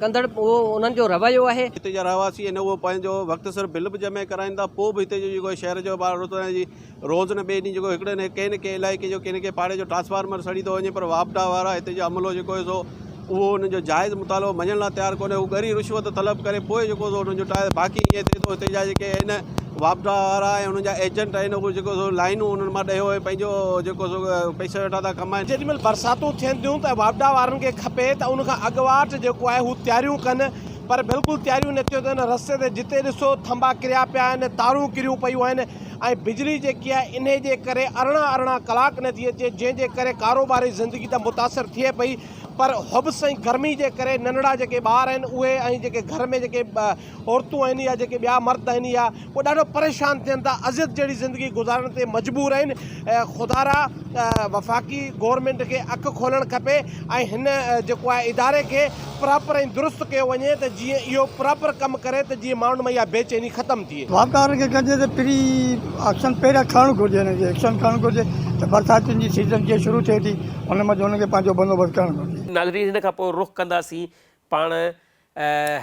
ڪندڙ اهو انهن جو رويو آهي. هتي جا رهواسي آهن اهو پنهنجو وقت سر بل به جمع ڪرائين ٿا پوء به هتي جو جيڪو شهر جو روز نه ٻئي ڏينهن جيڪو هڪڙي نه ڪنهن نه ڪنهن علائقي جو ڪنهن نه ڪنهن پاڙي جو ٽرانسفارمر سڙي ٿو وڃي پر واپڊا وارا هتي جو عملو جيڪو هي سو اهو انهن جو جائز مطالبو مڃڻ لاء تيار ڪونهي هو ڳري رشوت طلب ڪري پوء جيڪو سو انهن جو ٽائر باقي ائين ٿئي ٿو هتي جا جيڪي آهن واپڊا وارا ۽ انهن جا ايجنٽ آهن اهو جيڪو سو لائنون انهن مان ڏيو ۽ پنهنجو جيڪو سو پئسا ويٺا ٿا ڪمائن جيڏي مهل برساتون ٿين ٿيون ته واپڊا وارن کي کپي ته ان کان اڳواٽ جيڪو آهي هو تياريون ڪن پر بلڪل تياريون نه ٿيون ٿين رستي تي جتي ڏسو ٿنڀا ڪريا پيا آهن تارون ڪريون پيون آهن ۽ بجلي جيڪي آهي انهي جي ڪري ارڙهن ارڙهن ڪلاڪ نٿي اچي جنهن جي ڪري ڪاروباري زندگي ته متاثر ٿئي پئي پر حبس ۽ گرمي جي ڪري ننڙا جيڪي ٻار آهن اهي ۽ جيڪي گهر ۾ جيڪي عورتون آهن يا جيڪي ٻيا مرد آهن يا اهي ڏاڍو پريشان ٿين ٿا اذيت جهڙي زندگي گذارڻ تي مجبور آهن خدارا وفاقي گورنمينٽ کي اک کولڻ کپي ۽ هن جيڪو آهي اداري کي پراپر ۽ درست ڪيو وڃي ته جيئن اهو پراپر ڪم ڪري ته جيئن ماڻهن ۾ اها بي چيني ختم ٿئي. واپارن کي ڪجي ته پري ايڪشن پهريان کڻڻ گهرجي انهن کي ايڪشن کڻڻ گهرجي ته برساتين جي سيزن جيئن شروع ٿئي ٿي ان منجهه انهن کي پنهنجو بندوبست ڪرڻ گهرجي. ناظرين هن کان پوء رخ ڪنداسين پاڻ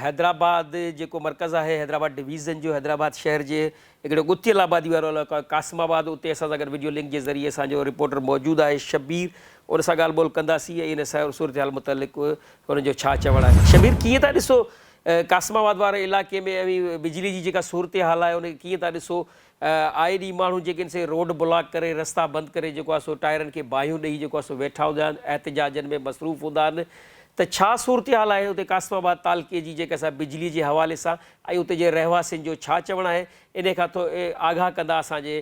حيدرآباد جيڪو مرڪز آهي حيدرآباد ڊويزن جو حيدرآباد شهر جي هڪڙو ڳتيل آبادي وارو علائقو آهي قاسم آباد، اتي اسان سان گڏ وڊيو لنڪ جي ذريعي اسان جو رپورٽر موجود آهي شبير، ان سان ڳالهه ٻولهه ڪنداسين ۽ ان سهي صورتحال متعلق هن جو ڇا چوڻ آهي. شبير ڪيئن ٿا ڏسو قاسم آباد واري علائقي ۾ اوهين بجلي جي جيڪا صورتحال آهي ان کي ڪيئن ٿا ڏسو، آئي ڏينهن ماڻهو جيڪي آهن سي روڊ بلاڪ ڪري رستا بند ڪري جيڪو آهي سو ٽائرن کي باهيون ڏئي جيڪو آهي سو ويٺا هوندا آهن احتجاجن ۾ مصروف هوندا آهن ته ڇا صورتحال آهي اتي قاسم آباد تعلقي جي جيڪا سا بجلي جي حوالي سان ۽ اتي جي رهواسين جو ڇا چوڻ آهي انهي کان ٿو آگاهه ڪندا اسان جي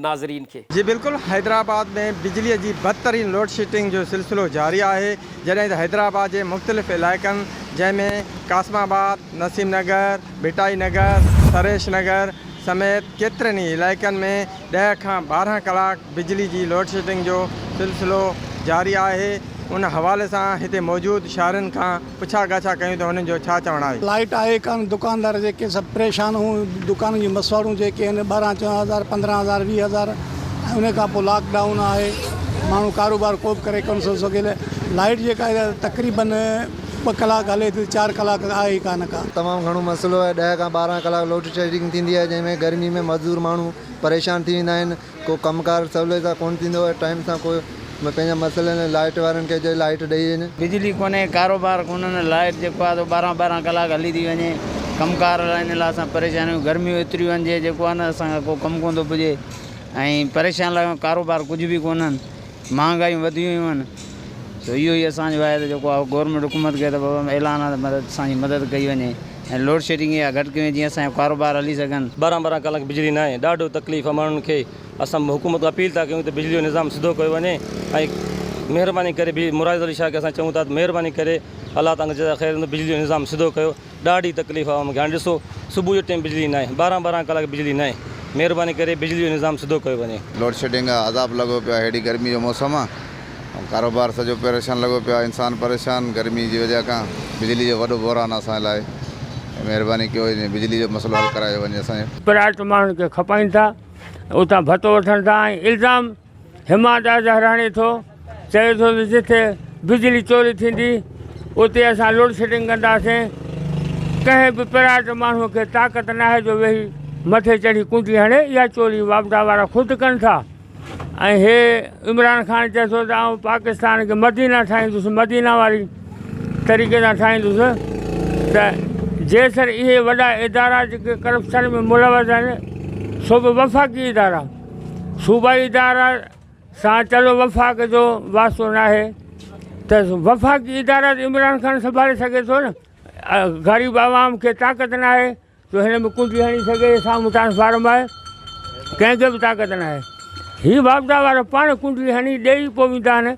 ناظرين کي. جي بلڪل حيدرآباد ۾ بجلي جي بدترين لوڊشيٽنگ جو سلسلو جاري آهي جڏهن ته حيدرآباد جي مختلف علائقن جنهن ۾ قاسم آباد، نسيم نگر، ڀٽائي نگر، سريش نگر سميت ڪيترن ئي علائقن ۾ ڏهه کان ٻارهن ڪلاڪ بجلي جي لوڊشيٽنگ جو سلسلو جاري آهي ان حوالي سان هتي موجود شاهرين کان پڇا ڳاڇا ڪيون ته هنن جو ڇا چوڻ آهي. لائيٽ آهي ڪانه دڪاندار جيڪي سڀ پريشان هون دڪانن جون مسواڙون جيڪي آهن ٻارهن چوڏهن هزار پندرهن هزار ويهه هزار ۽ ان کان پوء لاڪ ڊائون آهي ماڻهو ڪاروبار ڪو به ڪري ڪونه ٿو سگهي ته لائيٽ جيڪا آهي تقريبن ٻه ڪلاڪ هلي ٿي چار ڪلاڪ ته آهي ئي ڪانه ڪا. تمام گهڻو مسئلو آهي ڏهه کان ٻارهن ڪلاڪ لوڊشيڊنگ ٿيندي آهي جنهن ۾ گرمي ۾ مزدور ماڻهو پريشان ٿي ويندا آهن. ڪو ڪم ڪار سولي سان ڪونه ٿيندو آهي ٽائيم سان ڪو پنهنجا مسئلا نه لائيٽ وارن کي چئي لائيٽ ڏئي وڃ. بجلي ڪونهي ڪاروبار ڪونه نه لائيٽ جيڪو آهي سو ٻارهن ٻارهن ڪلاڪ هلي ٿي وڃي ڪم ڪار لاء ان لاء اسان پريشان آهيون گرميون ايتريون آهن جي جيڪو آهي نه اسان کان ڪو ڪم ڪونه ٿو پڄي ۽ پريشان لڳا آهيون ڪاروبار ڪجهه به ڪونهن مهانگايون وڌيون ويون آهن سو اهو ئي اسان جو آهي ته جيڪو آهي گورنمينٽ حڪومت کي ته بابا اعلان آهي ته مدد اسان جي مدد ڪئي وڃي ۽ لوڊشيڊنگ اها گهٽ ڪئي وڃي جيئن اسان جا ڪاروبار هلي سگهن. ٻارهن ٻارهن ڪلاڪ بجلي ناهي ڏاڍو تڪليف آهي ماڻهن کي اسان حڪومت کان اپيل ٿا ڪيون ته بجلي جو نظام سڌو ڪيو وڃي ۽ مهرباني ڪري مراد علي شاهه کي اسان چئون ٿا ته مهرباني ڪري الله تان جزا خير بجلي جو نظام سڌو ڪيو. ڏاڍي تڪليف عوام کي هاڻي ڏسو صبح جي ٽيم بجلي ناهي ٻارهن ٻارهن ڪلاڪ بجلي ناهي مهرباني ڪري بجلي جو نظام سڌو ڪيو وڃي. لوڊ شيڊنگ آ عذاب لڳو پيو آ هيڏي گرمي جو موسم آ ڪاروبار سڄو پريشان لڳو پيو آ انسان پريشان گرمي جي وجه کان بجلي جو وڏو بحران آ اسان جي لاء مهرباني ڪيو هي بجلي جو مسئلو حل ڪرايو وڃي اسان جو. پرايت ماڻهن کي کپائين ٿا اتان ڀتو وٺن ٿا ۽ الزام هما داس هراڻي ٿو چوي ٿو ته جتي بجلي چوري ٿيندي اتي اسان لوڊشيڊنگ ڪنداسين ڪنهن به پرائيويٽ ماڻهو کي طاقت ناهي جو ويهي مٿي چڙهي ڪونڊي هڻي اها چوري واپڊا وارا خود ڪن ٿا ۽ هي عمران خان چئي ٿو ته آئون پاڪستان کي مدينه ٺاهيندس مدينه واري طريقي سان ٺاهيندس ته جيسر اهي وڏا ادارا جيڪي ڪرپشن ۾ ملوث آهن سو به وفاقي ادارا صوبائي ادارا سان چلو وفاق جو واسطو ناهي ته وفاقي ادارا ته عمران خان سنڀالي سگهي ٿو نه غريب عوام کي طاقت ناهي جو هن ۾ ڪنڊي هڻي سگهي سامهون ٽرانسفارم آهي ڪنهن کي به طاقت ناهي هي واپدا وارا پاڻ ڪنڊي هڻي ڏيئي پوي ويندا آهن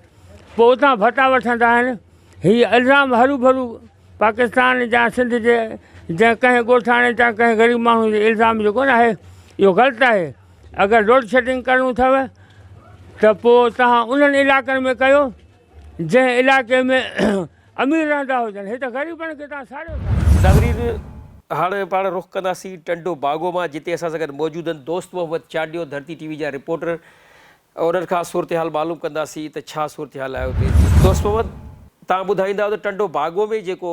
پوء اتان ڀتا وٺندا آهن هي الزام هرو ڀرو پاڪستان جا سنڌ جي جنهن ڪنهن ڳوٺاڻي تان ڪنهن غريب ماڻهو جي الزام جو ڪونه آهي اهو غلط آهي اگر لوڊ شيڊنگ ڪرڻو اٿو ته پو تهان انهن علاقن ۾ ڪيو جنهن علاقي ۾ امير رهندا هجن هي ته غريبن کي تهان ساڙيو ٿا. ناظرين هاڻ پاڻ رخ ڪنداسين ٽنڊو باگو مان جتي اسان سان گڏ موجود آهن دوست محمد چانڊيو ڌرتي ٽي وي جا رپورٽر انهن کان صورتحال معلوم ڪنداسين ته ڇا صورتحال آهي اتي. دوست محمد توهان ٻڌائيندا ته ٽنڊو باگو ۾ جيڪو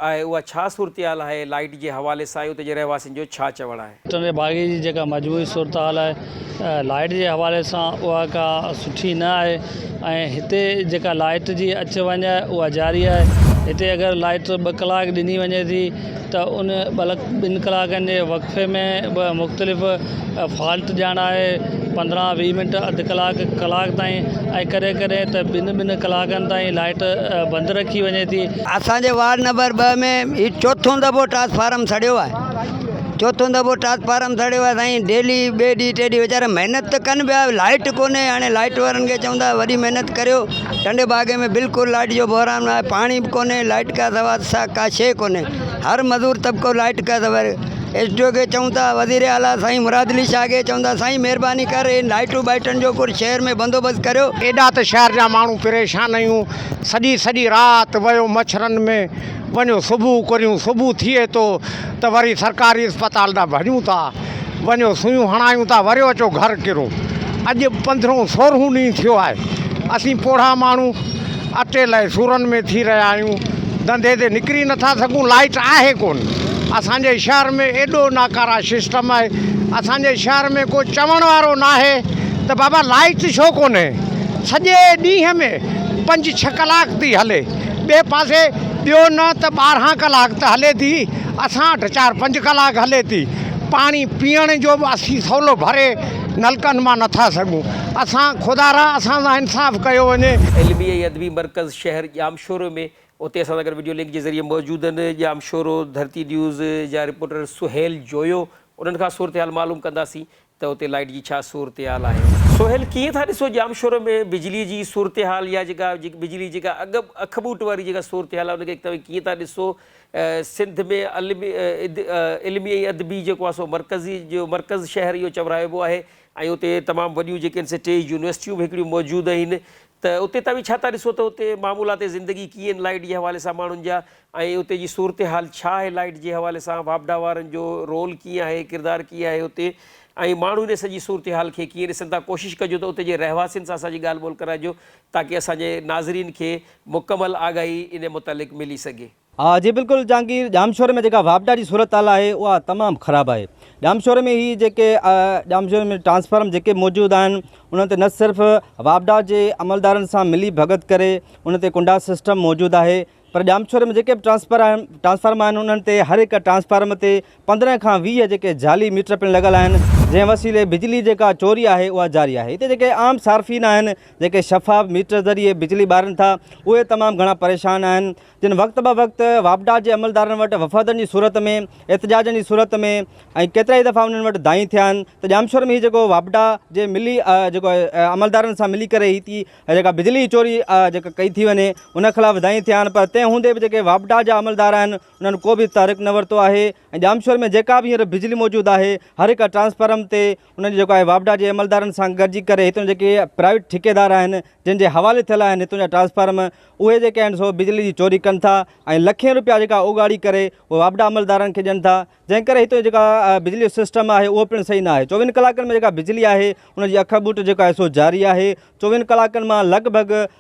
آهي اها ڇا صورتحال آهي لائيٽ جي حوالي سان ۽ اتي جي رهواسين جو ڇا چوڻ آهي. ٽنڊي باگي جي جيڪا مجموعي صورتحال آهي لائيٽ جي حوالي سان اها ڪا سٺي نه آهي ۽ هتي جيڪا لائيٽ جي اچ وڃ آهي اها جاري آهي هتي اگر لائيٽ ٻه ڪلاڪ ڏني وڃي ٿي ته ان بلڪ ٻن ڪلاڪن جي وقفي ۾ به مختلف فالٽ ڄاڻائي پندرهن ويهه منٽ اڌ ڪلاڪ ڪلاڪ تائين ۽ ڪڏهن ڪڏهن ته ٻن ٻن ڪلاڪن تائين لائٽ بند رکي وڃي ٿي. اسان جي وارڊ نمبر ٻه ۾ هي چوٿون دفعو ٽرانسفارم سڙيو آهي چوٿون دفعو ٽرانسفارم سڙيو آهي سائين ڊيلي ٻئي ڏينهن ٽئي ڏينهن ويچارا محنت ته ڪن پيا لائٽ ڪونهي هاڻي لائٽ وارن کي چون ٿا وڏي محنت ڪريو ٽنڊي باگي ۾ بلڪل لائٽ جو بحران آهي پاڻي به ڪونهي لائٽ کان سوا سا ڪا شيء ڪونهي هر مزور طبقو لائٽ کان سوا ايس ڊي او کي چئون ٿا وزير اعليٰ سائين مراد علي شاهه کي چئون ٿا سائين مهرباني ڪر هي لائٽون ٻائٽن جو ڪجهه شهر ۾ بندوبست ڪريو. ايڏا ته شهر جا ماڻهو پريشان اهيون سڄي سڄي رات ويو مڇرن ۾ وڃو صبح ڪريون صبح ٿئي ٿو ته وري سرڪاري اسپتال ڏانهن ڀڄون ٿا. وڃو سوئيون هڻايون ٿا وريو اچو گهر ڪرو اڄ پندرهون سورهون ڏينهن ٿيو آهي اسين پوڙها ماڻهو اٽي لئي سورن ۾ ٿي رهيا آهيون ڌنڌي تي نڪري نٿا سگهون لائيٽ آهي ڪون اسان جي شهر ۾ ايڏو ناڪارا سسٽم آهي اسان جي شهر ۾ ڪو چوڻ وارو ناهي ته بابا لائيٽ ڇو ڪونهي سڄي ڏينهن ۾ پنج ڇهه ڪلاڪ ٿي هلي ٻئي پاسي ٻيو نه ته ٻارهن ڪلاڪ ته هلي ٿي اسان وٽ چار پنج ڪلاڪ هلي ٿي پاڻي پيئڻ جو به اسين سولو ڀري نلڪن مان نٿا سگهون اسان خدا را اسان سان انصاف ڪيو وڃي. علمي ۽ ادبي مرڪز شهر ڄامشورو ۾ اتي اسان سان گڏ وڊيو لنڪ جي ذريعي موجود آهن ڄامشورو ڌرتي نيوز جا رپورٽر سهيل جويو انهن کان صورتحال معلوم ڪنداسين ته اتي لائيٽ جي ڇا صورتحال آهي؟ سهيل، ڪيئن ٿا ڏسو ڄامشورو ۾ بجلي جي صورتحال يا جيڪا بجلي جيڪا اڳ اک ٻوٽ واري جيڪا صورتحال آهي ان کي توهين ڪيئن ٿا ڏسو سنڌ ۾ علمي علمي ۽ ادبي جيڪو آهي سو مرڪزي جو مرڪز شهر اهو چورائبو آهي ۽ اتي تمام وڏيون جيڪي آهن سي ٽي يونيورسٽيون به هڪڙيون موجود آهن ته اتي توهين ڇا ٿا ڏسو ته اتي معمولات زندگي ڪيئن آهن لائيٽ جي حوالي سان ماڻهن جا ۽ اتي جي صورتحال ڇا آهي لائيٽ جي حوالي سان واپڊا وارن جو رول ڪيئن آهي ڪردار ڪيئن آهي اتي ۽ ماڻهو ان سڄي صورتحال کي ڪيئن ڏسن ٿا ڪوشش ڪجو ته اتي جي رهواسين سان اسان جي ڳالهه ٻولهه ڪرائجو تاڪه اسان جي ناظرين کي مڪمل آگاهي ان متعلق ملي سگهي. ها جي بلڪل جهانگير، ڄامشوري ۾ جيڪا واپڊا جي صورتحال آهي اها تمام خراب آهي، ڄامشوري ۾ هي جيڪي ڄامشوري ۾ ٽرانسفارم جيڪي موجود آهن انهن تي نه صرف واپڊا جي عملدارن سان ملي ڀڳت ڪري ان تي ڪنڊا سسٽم موجود آهي پر ڄامشوري ۾ جيڪي به ٽرانسفر آهن ٽرانسفارم آهن انهن تي هر هڪ ٽرانسفارم تي پندرهن کان ويهه جيڪي جعلي ميٽر پڻ لڳل آهن جنهن وسيلي بجلي جيڪا چوري آهي اها جاري آهي هتي جيڪي عام صارفين آهن جيڪي شفاف ميٽر ذريعي بجلي ٻارن ٿا اهي تمام گهڻا پريشان آهن جن وقت به وقت واپڊا جي عملدارن وٽ وفدن جي صورت ۾ احتجاجن جي صورت ۾ ۽ ڪيترائي دفعا انهن وٽ دانهين ٿيا آهن ته ڄامشور ۾ هي جيڪو واپڊا جي ملي جيڪو عملدارن سان ملي ڪري هي ٿي جيڪا بجلي جي چوري جيڪا ڪئي ٿي وڃي ان خلاف دانهين ٿيا آهن پر تنهن هوندي به جيڪي واپڊا جا عملدار آهن انهن ڪو به تحرڪ نه ورتو آهي ۽ ڄامشوري ۾ جيڪا به هينئر بجلي موجود آهي هر هڪ ٽرانسفارم تي انهن جو جيڪو آهي واپڊا جي عملدارن سان گڏجي ڪري هتان جا جيڪي پرائيويٽ ٺيڪيدار آهن جن جي حوالي ٿيل آهن هتان جا ٽرانسفارم اهي جيڪي آهن سو بجلي جي چوري ڪن ٿا ۽ لکين روپيا جيڪا اوڳاڙي ڪري اهي واپڊا عملدارن کي ڏين ٿا جنهن ڪري هتان جيڪا بجلي جو سسٽم آهي اهو پڻ صحيح نه آهي چوويهن ڪلاڪن ۾ جيڪا بجلي آهي ان جي اک ٻوٽ جيڪا آهي سو جاري آهي چوويهن ڪلاڪن مان لڳ ڀڳ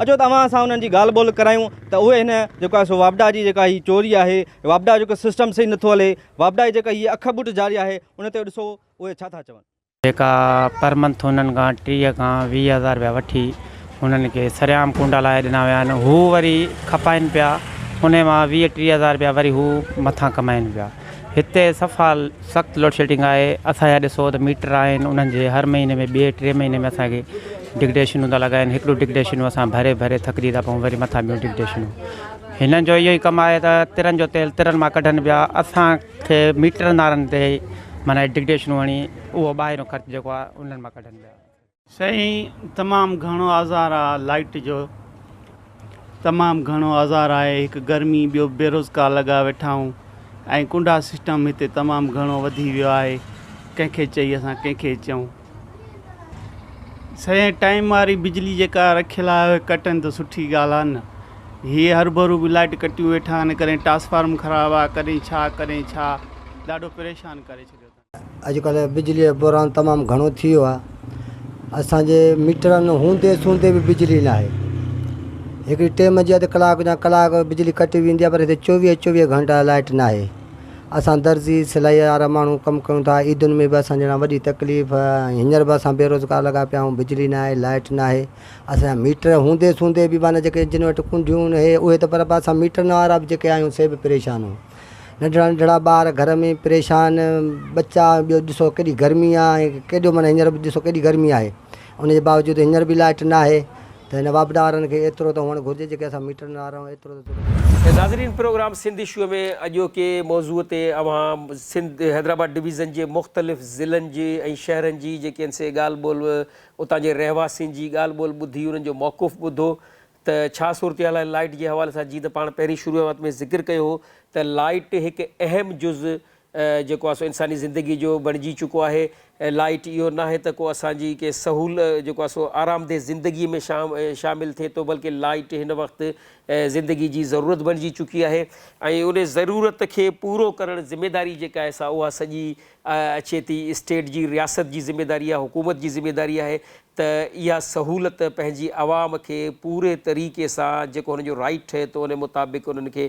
اچو ته اوهان سان انهن جي ڳالهه ٻولهه ڪرايون ته اهي هن جيڪو آهي سو واپڊا جي جيڪا هي چوري آهي واپڊا جو جيڪو سسٽم صحيح نٿو هلي واپڊا جي جيڪا هي اک ٻوٽ جاري آهي ان تي ڏسو اهي ڇا ٿا چون. جيڪا پر منٿ هنن کان ٽيهه کان ويهه هزار رپيا وٺي هنن کي سرعام ڪونڊا لاهي ڏنا ويا آهن هو وري کپائن پيا انهي مان ويهه ٽيهه هزار رپيا وري هو مٿان ڪمائن پيا. هتي صفا سخت لوڊشيڊنگ آهي اسان جا ڏسو ته ميٽر آهن انهن جي هر مهيني ۾ ٻي ٽي مهيني ۾ اسانکي ڊگڊيشنون ٿا لڳائن هڪڙو ڊگڊيشنون اسان ڀري ڀري ٿڪجي ٿا پئون وري مٿان ٻيون ڊگڊيشنون هنن جو اهو ئي ڪم آهي ته ترن جو تيل ترن مان ڪڍن پيا اسانکي ميٽرن وارن تي معنيٰ ڊگڊيشنون هڻي اهو ٻاهريون خرچ جيڪو آهي انهن مان ڪڍن پيا سائين تمام گهڻو آزار آ لائٽ جو تمام گهڻو آزار آهي هڪ گرمي ٻيو بيروزگار لڳا ويٺا آهون ۽ ڪنڊا سسٽم هتي تمام گهڻو وڌي ويو آهي ڪنهن کي چئي اسان ڪنهن کي چئون سائين ٽائيم واري بجلي جيڪا رکيل آهي ڪٽن ته سٺي ڳالهه آهي نه هي هربرو به لائٽ ڪٽيون ويٺا آهن ڪڏهن ٽرانسفارم خراب آ ڪڏهن ڇا ڪڏهن ڇا ڏاڍو پريشان ڪري ڇڏيو اڄ ڪلهه بجلي جو بحران تمام گهڻو ٿي ويو آهي اسان جي ميٽرن هوندي سوندي به بجلي نه آهي هڪڙي ٽيم جي اڌ ڪلاڪ يا ڪلاڪ بجلي ڪٽي ويندي آهي پر هتي چوويهه چوويهه گهنٽا لائٽ نه آهي اسان درزي سلائي وارا ماڻهو ڪم ڪيون ٿا عيدن ۾ به اسان جهڙا وڏي تڪليف ۽ هينئر به اسان بيروزگار لڳا پيا آهيون بجلي نه آهي لائٽ نه آهي اسان جا ميٽر هوندي سوندي به معنيٰ جيڪي جن وٽ ڪنڊيون هي اهي ته پر اسان ميٽرن وارا به جيڪي آهيون سي به پريشان آهيون ننڍڙا ننڍڙا ٻار گهر ۾ پريشان ٻچا ٻيو ڏسو ڪيڏي گرمي آهي ۽ ڪيڏو معنيٰ هينئر به ڏسو ڪيڏي گرمي آهي ان جي باوجود هينئر به لائٽ نه آهي ته هن واپڊا وارن کي ايترو ته هئڻ گهرجي جيڪي اسان ميٽرن وارا آهيون ايترو ته ضرور ٿيڻ گهرجي. ناظرين پروگرام سنڌ اشوء ۾ اڄوڪي موضوع تي اوهان سنڌ حيدرآباد ڊويزن جي مختلف ضلعن جي ۽ شهرن جي جيڪي ان سي ڳالهه ٻولهه اتان جي رهواسين جي ڳالهه ٻولهه ٻڌي انهن جو موقف ٻڌو ته ڇا صورتحال آهي لائيٽ جي حوالي سان جي ته پاڻ پهرين شروعات ۾ ذڪر ڪيو هو ته لائيٽ هڪ اهم جز جيڪو آهي سو انساني زندگي جو بڻجي چڪو آهي لائيٽ اهو ناهي ته ڪو اسان جي ڪي سهول جيڪو آهي سو آرامده زندگي ۾ شامل ٿئي ٿو بلڪه لائيٽ هن وقت زندگي جي ضرورت بڻجي چڪي آهي ۽ ان ضرورت کي پورو ڪرڻ ذميداري جيڪا آهي سا اها سڄي اچي ٿي اسٽيٽ جي رياست جي ذميداري آهي حڪومت جي ذميداري آهي ته اها سهولت پنهنجي عوام کي پوري طريقي سان جيڪو هن جو رائيٽ ٺهي ٿو ان مطابق انهن کي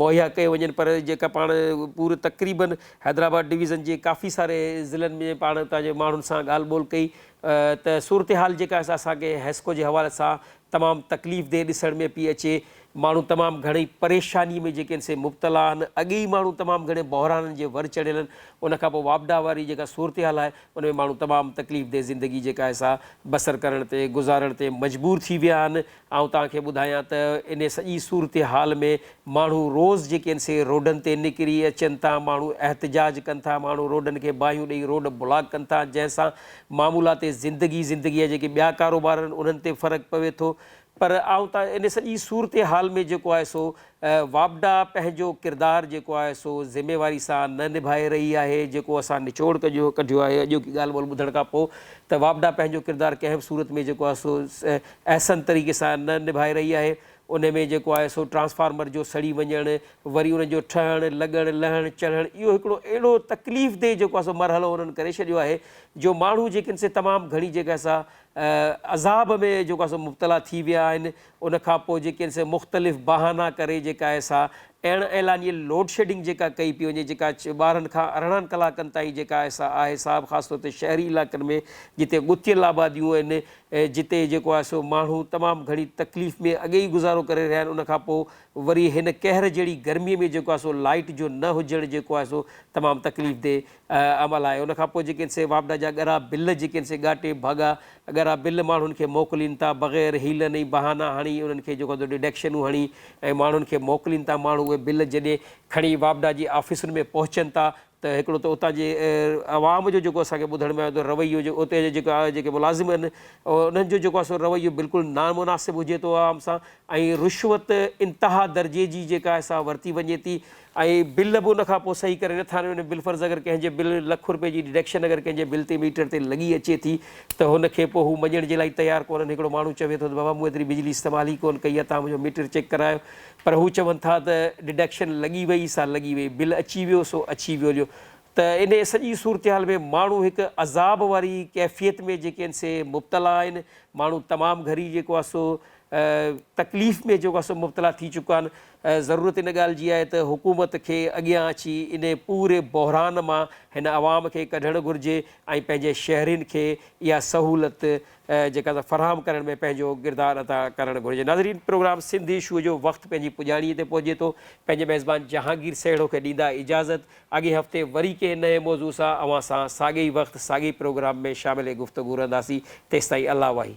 مهيا ڪيو وڃن پر جيڪا پاڻ پوري تقريبن حيدرآباد ڊويزن جي ڪافي ساري ضلعن ۾ پاڻ اتان جي ماڻهن سان ڳالهه ٻولهه ڪئي ته صورتحال جيڪا اسان کي حيسڪو جي حوالي سان تمام تڪليف ديھ ڏسڻ ۾ پئي اچي، ماڻھو تمام گھڻي پريشاني ۾ جيڪي ان سي مبتلا آھن، اڳي ئي ماڻھو تمام گھڻي بحرانن جي ور چڙھيل آھن، ان کان پوء واپڊا واري جيڪا صورتحال آھي ان ۾ ماڻھو تمام تڪليف ديھ زندگي جيڪا آھي سا بسر ڪرڻ تي گذارڻ تي مجبور ٿي ويا آھن، آئون توھان کي ٻڌايان ته ان سڄي صورتحال ۾ ماڻھو روز جيڪي ان سي روڊن تي نڪري اچن ٿا، ماڻھو احتجاج ڪن ٿا، ماڻھو روڊن کي باھيون ڏئي روڊ بلاڪ ڪن ٿا، جنھن سان معمولات زندگي، زندگيء جا جيڪي ٻيا ڪاروبار آهن، انهن تي فرق پوي ٿو، پر آئون ته ان سڄي صورتحال ۾ جيڪو آهي سو واپڊا پنهنجو ڪردار جيڪو آهي سو ذميواري سان نه نڀائي رهي آهي، جيڪو اسان نچوڙ ڪجو ڪڍيو آهي اڄوڪي ڳالهه ٻولهه ٻڌڻ کان پوء ته واپڊا پنهنجو ڪردار ڪنهن به صورت ۾ جيڪو آهي سو احسن طريقي سان نه نڀائي رهي آهي، ان ۾ جيڪو آهي سو ٽرانسفارمر جو سڙي وڃڻ، وري ان جو ٺهڻ، لڳڻ، لهڻ، چڙهڻ اهو هڪڙو اهڙو تڪليف دهه جيڪو آهي سو مرحلو انهن ڪري ڇڏيو آهي جو ماڻهو جيڪن سي تمام گهڻي جيڪا آهي سا عذاب ۾ جيڪو آهي سو مبتلا ٿي ويا آهن ان کان پوء جيڪن سي مختلف بهانا ڪري جيڪا آهي سا اڻ اعلانيه لوڊ شيڊنگ جيڪا ڪئي پئي وڃي جيڪا ٻارهن کان ارڙهن ڪلاڪن تائين جيڪا آهي سا آهي صاحب خاص طور تي شهري علائقن ۾ جتي ڳتيل آباديون آهن ۽ جتي جيڪو آهي سو ماڻهو تمام گهڻي تڪليف ۾ اڳي ئي گذارو ڪري رهيا آهن ان کان پوء وري هن قهر جهڙي گرمي ۾ جيڪو آهي سو لائيٽ جو نه هجڻ جيڪو آهي سو تمام تڪليف دي عمل آهي ان کان پوء جيڪي آهن سي واپڊا جا ڳرا بل جيڪي آهن سي ڳاٽي ڀاڳا ڳرا بل ماڻهن کي موڪلين ٿا بغير حيلن ۽ بهانا هڻي انهن کي جيڪو آهي سو ڊڊڪشنون هڻي ۽ ماڻهن کي موڪلين ٿا ماڻهو اهي بل جڏهن کڻي واپڊا جي آفيسن ۾ پهچن ٿا ته هڪڙو ته اتان جي عوام جو جيڪو اسان کي ٻڌڻ ۾ آيو ته رويو جو اتي جا جيڪا جيڪي ملازم آهن انهن جو جيڪو آهي سو رويو بلڪل نامناسب هجي ٿو عوام سان ۽ رشوت انتها درجي جي جيڪا آهي سا ورتي وڃي ٿي ۽ بل به ان کان پوء صحيح ڪري نٿا ڏين بلفرض اگر ڪنهن جي بل لک روپيه جي ڊڊڪشن اگر ڪنهن جي بل تي ميٽر تي لڳي اچي ٿي ته هن کي پوء هو مڃڻ جي لاء تيار ڪونهن هڪڙو ماڻهو چوي ٿو ته بابا مون ايتري بجلي استعمال ئي ڪونهن ڪئي آهي تان منهنجو ميٽر چيڪ ڪرايو پر هو چون ٿا ته ڊڊڪشن لڳي وئي سا لڳي وئي، بل اچي ويو سو اچي ويو جو ته ان سڄي صورتحال ۾ ماڻهو هڪ عذاب واري ڪيفيت ۾ جيڪي آهن سي مبتلا آهن، ماڻهو تمام گهري جيڪو آهي سو تڪليف ۾ جيڪو آهي سو مبتلا ٿي چڪا آهن، ضرورت ان ڳالهه جي آهي ته حڪومت کي اڳيان اچي ان پوري بحران مان هن عوام کي ڪڍڻ گهرجي ۽ پنهنجي شهرين کي اها سهولت جيڪا سا فراهم ڪرڻ ۾ پنهنجو ڪردار ادا ڪرڻ گهرجي ناظرين پروگرام سنڌي شو جو وقت پنهنجي پڄاڻي تي پهچي ٿو پنهنجي ميزبان جهانگير سهڻو کي ڏيندا اجازت اڳئين هفتي وري ڪنهن نئين موضوع سان اوهان سان ساڳئي ئي وقت ساڳئي ئي پروگرام ۾ شامل گفتگو رهنداسين تيستائين الله واهي.